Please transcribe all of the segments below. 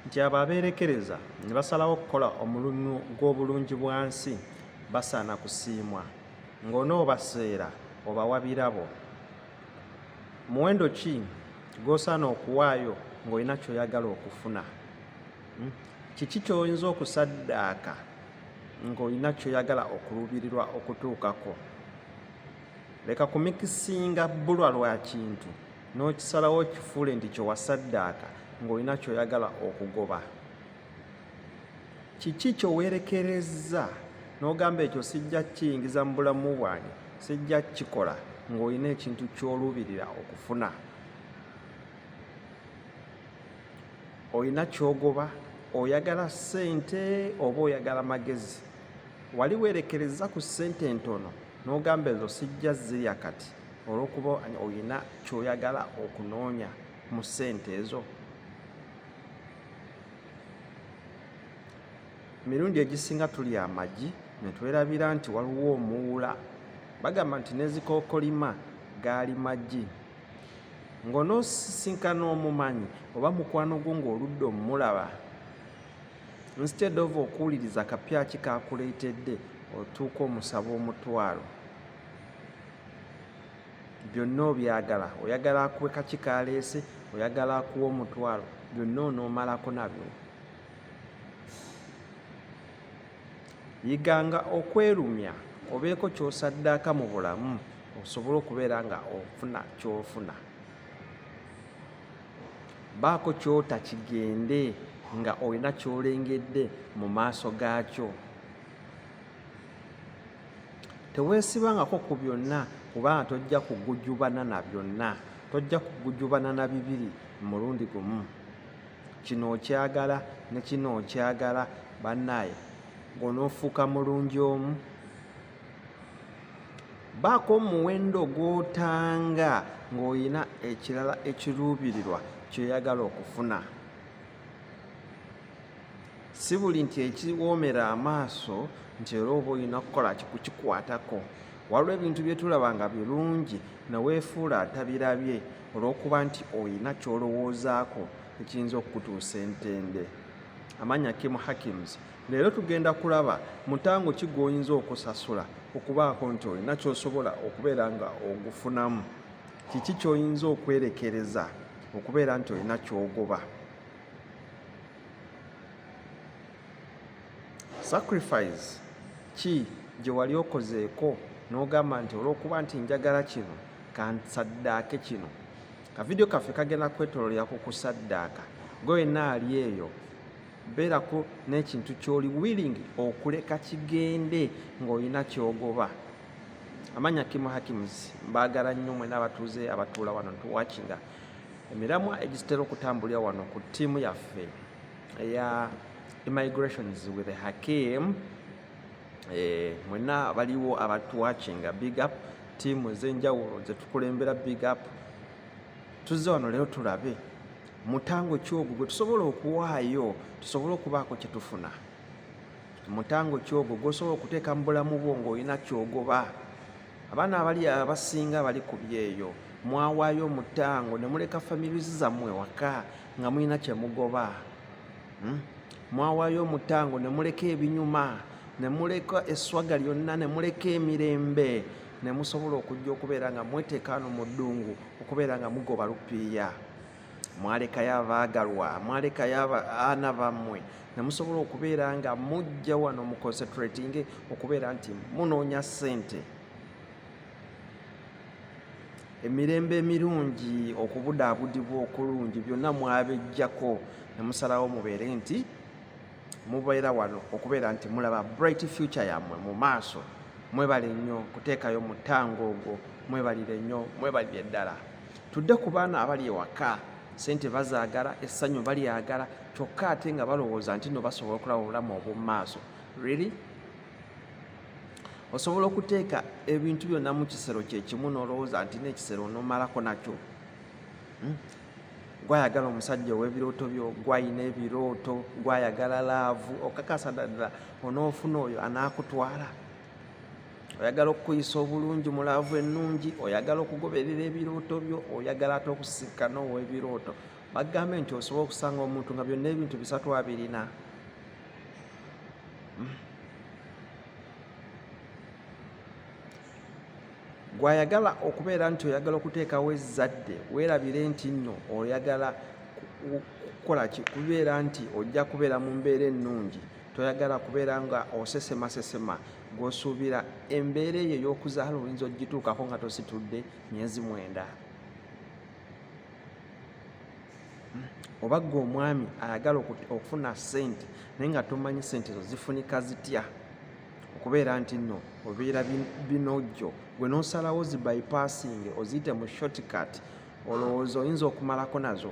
nti abo abeerekereza ne basalawo okukola omulunnu gw'obulungi bwa nsi basaana kusiimwa ng'onoobaseera obawa birabo muwendo ki gw'osaana okuwaayo ng'olina ky'oyagala okufuna hmm? kiki ky'oyinza okusaddaaka ng'olina ky'oyagala okuluubirirwa okutuukako leka kumikisinga bbulwa lwa kintu n'okisalawo okifuule nti kye wasaddaaka ng'olina ky'oyagala okugoba kiki kye weerekerezza n'ogamba ekyo sijja kiyingiza mu bulamu bwange sijja kukikola ng'olina ekintu ky'oluubirira okufuna olina kyogoba oyagala ssente oba oyagala magezi wali weerekerezza ku ssente entono n'ogamba ezo sijja zirya kati olwokuba olina kyoyagala okunoonya mu ssente ezo mirundi egisinga tuli amagi netwerabira nti waliwo omuwula bagamba nti nezikokolima gaali magi ngonosisinkana omumanyi oba mukwano gwo ngaoludde omumulaba instead of okuwuliriza kapyaki kakuleetedde otuuka omusaba omutwalo byonna obyagala oyagala akuwe kaki kaleese oyagala akuwa omutwalo byonna onoomalako nabyo yiganga okwerumya obeeko kyosaddaaka mu bulamu osobole okubeera nga ofuna kyofuna baako kyota kigende nga olina kyolengedde mu maaso gaakyo teweesibangako ku byonna kubanga tojja kugujubana na byonna tojja kugujubana na bibiri mulundi gumu kino okyagala ne kino okyagala bannaaye ng'onoofuuka mulungi omu baako omuwendo gw'otanga ng'olina ekirala ekiruubirirwa kyoyagala okufuna si buli nti ekiwoomera amaaso nti era oba olina kukola kikukikwatako waliwo ebintu bye tulaba nga birungi ne weefuula atabirabye olw'okuba nti olina ky'olowoozaako ekiyinza okukutuusa entende amanya kim hakims leero tugenda kulaba mutango ki gw'oyinza okusasula okubaako nti olina ky'osobola okubeera nga ogufunamu kiki ky'oyinza okwerekereza okubeera nti olina ky'ogoba sacrifice ki gye wali okozeeko n'ogamba nti olw'okuba nti njagala kino kansaddaake kino kavidiyo kaffe kagenda kwetololera ku kusaddaaka gwe wenna ali eyo beerako n'ekintu ky'oli willing okuleka kigende ng'olina kyogoba amanya kimu hakims mbaagala nnyo mwena abatuuze abatuula wano ntuwakinga emiramwa egitera okutambulira wano ku ttiimu yaffe eya immigrations with hakim eh, mwena baliwo abatuwakinga big up ttiimu ez'enjawulo zetukulembera big up tuzze wano leero tulabe mutango ki ogwo gwe tusobola okuwaayo tusobole okubaako kye tufuna mutango ki ogwo gwosobola okuteeka mu bulamu bwo ng'olina kyogoba abaana abali abasinga bali ku byeyo mwawaayo omutango ne muleka families zammwe waka nga mulina kye mugoba hmm? mwawaayo omutango ne muleka ebinyuma ne muleka esswaga lyonna ne muleka emirembe ne musobola okujja okubeera nga mweteekaano mu ddungu okubeera nga mugoba lupiiya mwalekayo abaagalwa mwalekayo abaana bammwe nemusobola okubeera nga mujja wano mu concentrating okubeera nti munoonya ssente emirembe emirungi okubudaabudibwa okulungi byonna mwabejjako nemusalawo mubeere nti mubeera wano okubeera nti mulaba bright future yammwe mu maaso mwebale nnyo kuteekayo mutango ogwo mwebalire nnyo mwebalire ddala tudde ku baana abali ewaka sente bazaagala essanyu balyagala kyokka ate nga balowooza nti no basobola okulaba obulamu obwomumaaso really osobola okuteeka ebintu byonna mu kisero kyekimu nolowooza nti nekisero onomalako nakyo hmm? gwayagala omusajja owebirooto byo gwayina ebirooto gwayagala laavu okakasa ddala onoofuna oyo anaakutwala oyagala okukuyisa obulungi mulaavu ennungi oyagala okugoberera ebirooto byo oyagala ate okusisikana ow'ebirooto bagambe nti osobola okusanga omuntu nga byonna ebintu bisatu abirina hmm. gwayagala okubeera nti oyagala okuteekawo ezzadde weerabire nti nno oyagala kukolaki kubeera nti ojja kubeera mu mbeera ennungi toyagala kubeera nga osesema sesema gwosuubira embeera eyo ey'okuzaala oyinza ogituukako nga tositudde myezi mwenda oba gwe omwami ayagala okufuna sente naye nga tomanyi sente ezo zifunika zitya okubeera nti nno obeera binojjo gwe nosalawo zi bypassing oziyite mu shortcut olowooza oyinza okumalako nazo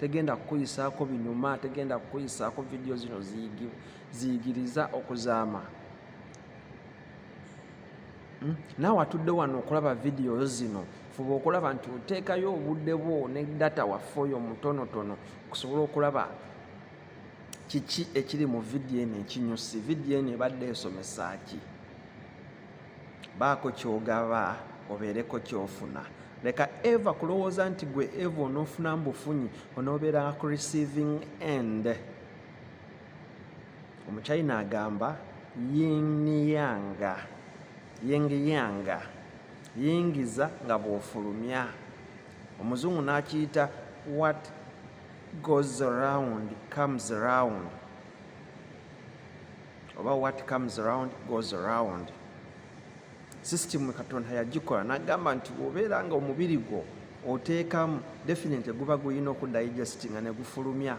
tegenda kukuyisaako binyuma tegenda kukuyisaako vidiyo zino ziyigiriza okuzaama hmm? naawe atudde wano okulaba vidiyo zino fuba okulaba nti oteekayo obudde bwo ne data waffe oyo mutonotono okusobola okulaba kiki ekiri mu vidiyo eno ekinyusi vidiyo eno ebadde esomesa ki baako kyogaba obeereko kyofuna leka eva kulowooza nti gwe eva onoofuna mbufunyi onoobeera ku receiving end omuchina agamba yiniyanga yingiyanga yingiza nga bwofulumya omuzungu n'akiyita what goes around comes around oba what comes around goes around system katonda yagikola nagamba nti obeera nga omubiri gwo oteekamu definite guba gulina okudigestinga negufulumya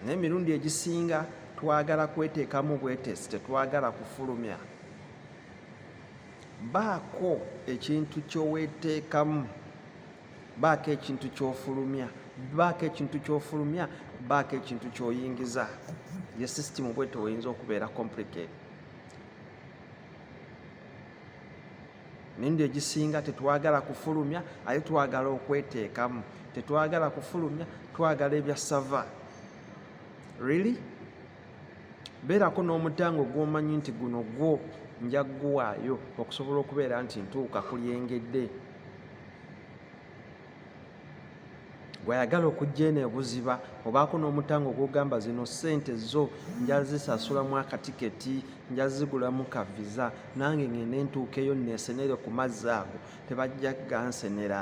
naye emirundi egisinga twagala kweteekamu bwetesi tetwagala kufulumya baako ekintu kyoweteekamu baako ekintu kyofulumya baako ekintu kyofulumya baako ekintu kyoyingiza ye system bwete oyinza okubeera complicate nende egisinga tetwagala kufulumya aye twagala okweteekamu tetwagala kufulumya twagala ebya sava really beerako n'omutango gw'omanyi nti guno gwo nja kuguwaayo okusobola okubeera nti ntuuka ku lyengedde gwayagala okujja eno ebuziba obaako n'omutango gwogamba zino ssente zo njazisasulamu akatiketi njazigulamu ka viza nange ngende ntuukeyo nesenere ku mazzi ago tebajja gansenera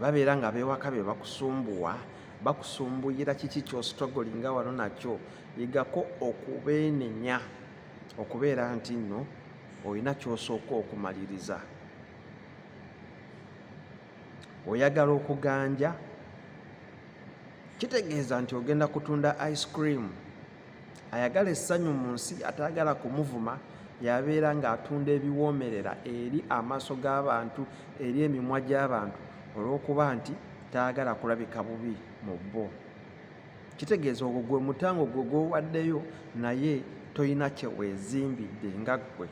babeera nga abewaka be bakusumbuwa bakusumbuyira kiki kyostrugglinga wano nakyo yigako okubeenenya okubeera nti nno olina kyosooka okumaliriza oyagala okuganja kitegeeza nti ogenda kutunda ice cream ayagala essanyu mu nsi atayagala kumuvuma yabeera ng'atunda ebiwoomerera eri amaaso g'abantu eri emimwa gy'abantu olw'okuba nti tayagala kulabika bubi mu bo kitegeeza ogwo gwe mutango gwe gwowaddeyo naye tolina kyeweezimbidde nga ggwe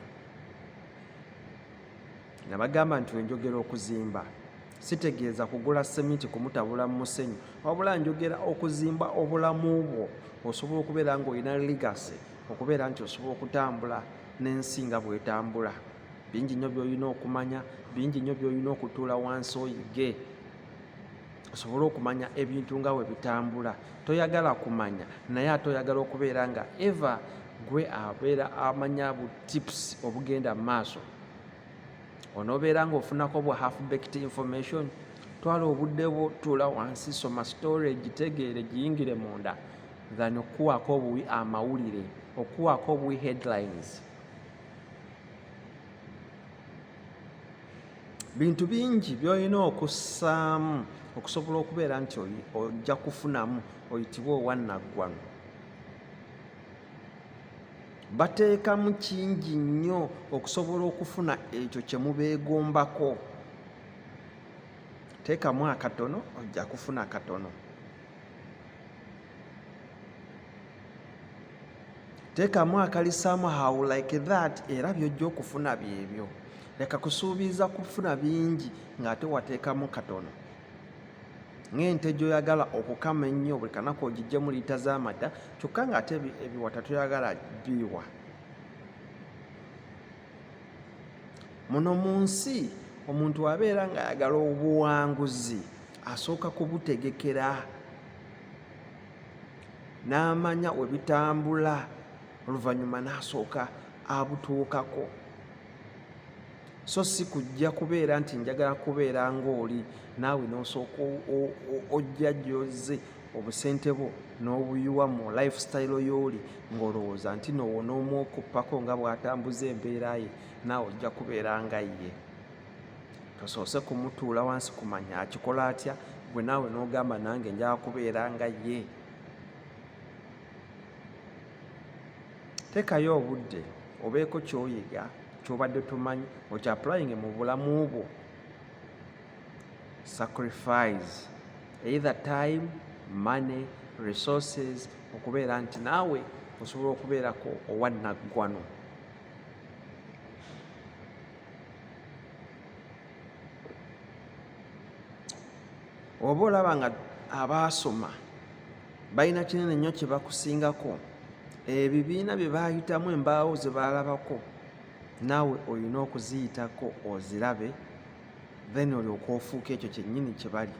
Nabagamba nti wenjogera okuzimba sitegeeza kugula seminti kumutabula mu musenyu wabula njogera okuzimba obulamu bwo osobola okubeera nga olina ligase okubeera nti osobola okutambula n'ensi nga bwetambula bingi nnyo byolina okumanya bingi nnyo byolina okutuula wansi oyige osobole okumanya ebintu nga we bitambula toyagala kumanya naye ate oyagala okubeera nga eva gwe abeera amanya bu tips obugenda mu maaso onobeera nga ofunako bwa half baked information twala obudde bwo tuula wansi soma story gitegeere giyingire munda than okukuwaako obuwi amawulire okukuwaako obuwi headlines bintu bingi byolina okussaamu okusobola okubeera nti ojja kufunamu oyitibwe owannaggwano bateekamu kingi nnyo okusobola okufuna ekyo kye mubeegombako teekamu akatono ojja kufuna akatono teekamu akalisaamu how like that era byojja okufuna byebyo leka kusuubiza kufuna bingi ng'ate wateekamu katono ng'ente gyoyagala okukama ennyo buli kanaku ogijjemu liita z'amata kyokka ng'ate ebiwata toyagala biwa muno mu nsi omuntu abeera ng'ayagala obuwanguzi asooka kubutegekera n'amanya we bitambula oluvannyuma n'asooka abutuukako so si kujja kubeera nti njagala kubeera ng'oli naawe n'osooka ojja gyozze obusente bwo n'obuyiwa mu lifestyle y'oli ng'olowooza nti noowo n'omwokuppako nga bw'atambuza embeera ye naawe ojja kubeera nga ye tosoose kumutuula wansi kumanya akikola atya gwe naawe n'ogamba nange njala kubeera nga ye Tekayo obudde obeeko kyoyiga kyobadde tomanyi oti applying mu bulamu bwo sacrifice either time money resources okubeera nti naawe osobola okubeerako owannaggwano oba olaba nga abaasoma balina kinene nnyo kye bakusingako ebibiina bye baayitamu embaawo ze baalabako naawe olina okuziyitako ozirabe then olyoka ofuuka ekyo kyennyini kye bali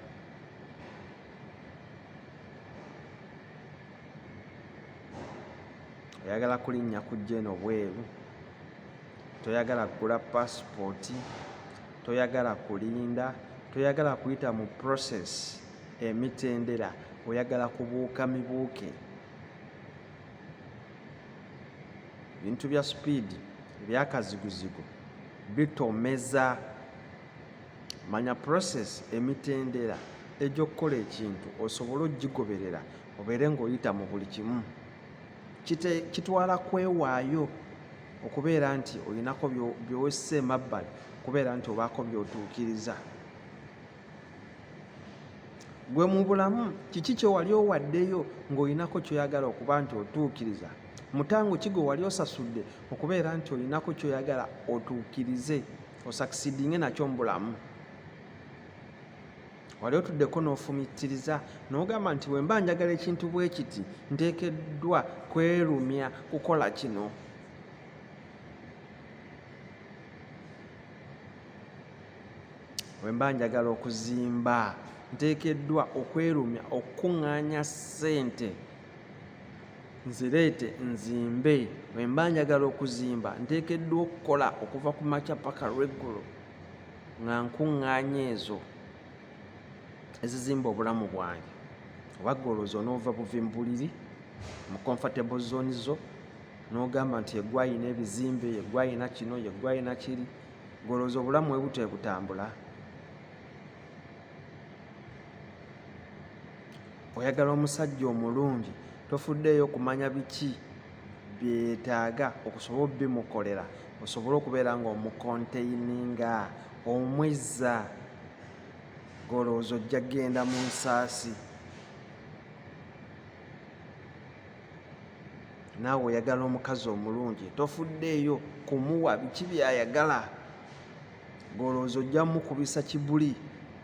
oyagala kulinnya kujja eno bweru toyagala kugula pasipooti toyagala kulinda toyagala kuyita mu process Emitendera oyagala kubuuka mibuuke. Ebintu bya sipiidi ebyakaziguzigu bitomeza. Manya process emitendera egy'okukola ekintu osobole ogigoberera obeere ng'oyita mu buli kimu. Kitwala kwewaayo okubeera nti olinako by'ossa emabbali okubeera nti obaako by'otuukiriza. gwe mu bulamu kiki kyewali owaddeyo ng'olinako kyoyagala okuba nti otuukiriza mutango ki gwe wali osasudde okubeera nti olinako kyoyagala otuukirize osakisidinge nakyo mu bulamu wali otuddeko n'ofumitiriza n'ogamba nti bwe mba njagala ekintu bwe kiti nteekeddwa kwerumya kukola kino wemba njagala okuzimba nteekeddwa okwerumya okukuŋŋaanya ssente nzireete nzimbe wemba njagala okuzimba nteekeddwa okukola okuva ku makya paka lweggulo nga nkuŋŋaanya ezo ezizimba obulamu bwange oba golooza onoova buvi mu buliri mu comfortable zone zo n'ogamba nti yegwayina ebizimbe yegwayina kino yegwayina kiri Gwolowooza obulamu webutya ebutambula? Oyagala omusajja omulungi tofuddeeyo kumanya biki byetaaga okusobola obimukolera osobole okubeera nga omukonteininga omwezza golowooza ojja genda mu nsaasi naawe oyagala omukazi omulungi tofuddeeyo kumuwa biki byayagala golowooza ojja mukubisa kibuli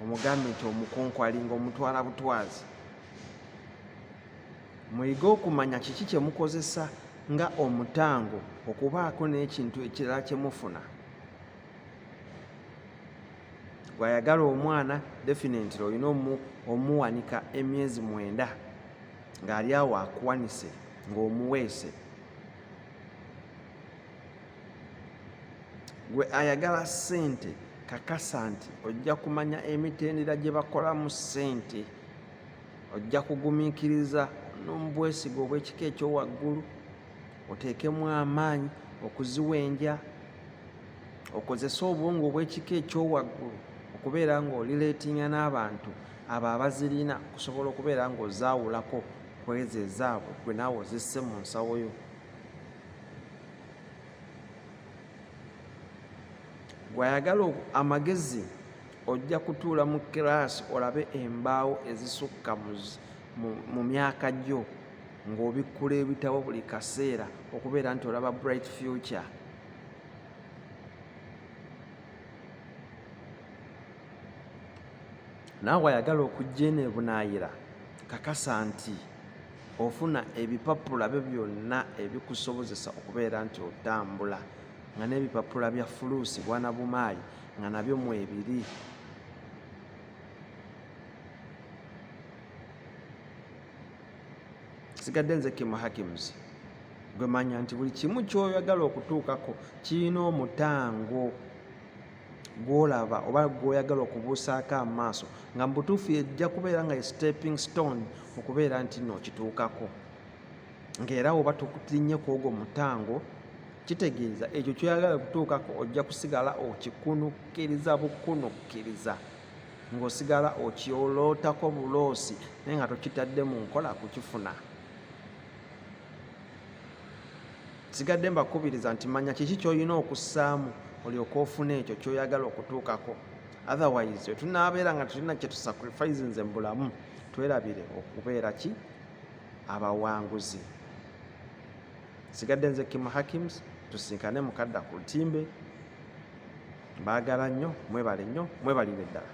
omugambe nti omukonkwali nga omutwala butwazi muyige okumanya kiki kyemukozesa nga omutango okubaako n'ekintu ekirala kyemufuna gwayagala omwana definitely olina omuwanika emyezi mwenda ng'ali awo akuwanise ng'omuweese gwe ayagala ssente kakasa nti ojja kumanya emitendera gye bakolamu ssente ojja kugumiikiriza n'omubwesiga obw'ekika ekyowaggulu oteekemu amaanyi okuziwenja okozese obwongo obw'ekika ekyowaggulu okubeera ng'olireetinga n'abantu abo abazirina kusobola okubeera ng'ozaawulako ku ezo ezaabwe gwe naawe ozisse mu nsawo yo gwayagala amagezi ojja kutuula mu kiraasi olabe embaawo ezisukka mu myaka gyo ng'obikkula ebitabo buli kaseera okubeera nti olaba bright future naawe ayagala okujja eno ebunaayira kakasa nti ofuna ebipapula byo byonna ebikusobozesa okubeera nti otambula nga n'ebipapula bya fuluusi bwana bumaali nga nabyo mwebiri sigadde nze kimu hakims gwemanya nti buli kimu kyoyagala okutuukako kirina omutango gw'olaba oba gw'oyagala okubuusaako amaaso nga mu butuufu yejja kubeera nga ye stepping stone mu kubeera nti nno okituukako ng'era oba tulinnye ku ogwo mutango kitegeeza ekyo kyoyagala okutuukako ojja kusigala okikunukkiriza bukunukkiriza ng'osigala okyolootako buloosi naye nga tokitadde mu nkola kukifuna sigadde mbakubiriza nti manya kiki kyolina okussaamu olyoka ofuna ekyo kyoyagala okutuukako otherwise wetunabeera nga tulina kyetusacrifice nze mubulamu twerabire okubeera ki abawanguzi sigadde nze kim hakims tusinkane mukadda ku lutimbe mbaagala nnyo mwebale nnyo mwebalire ddala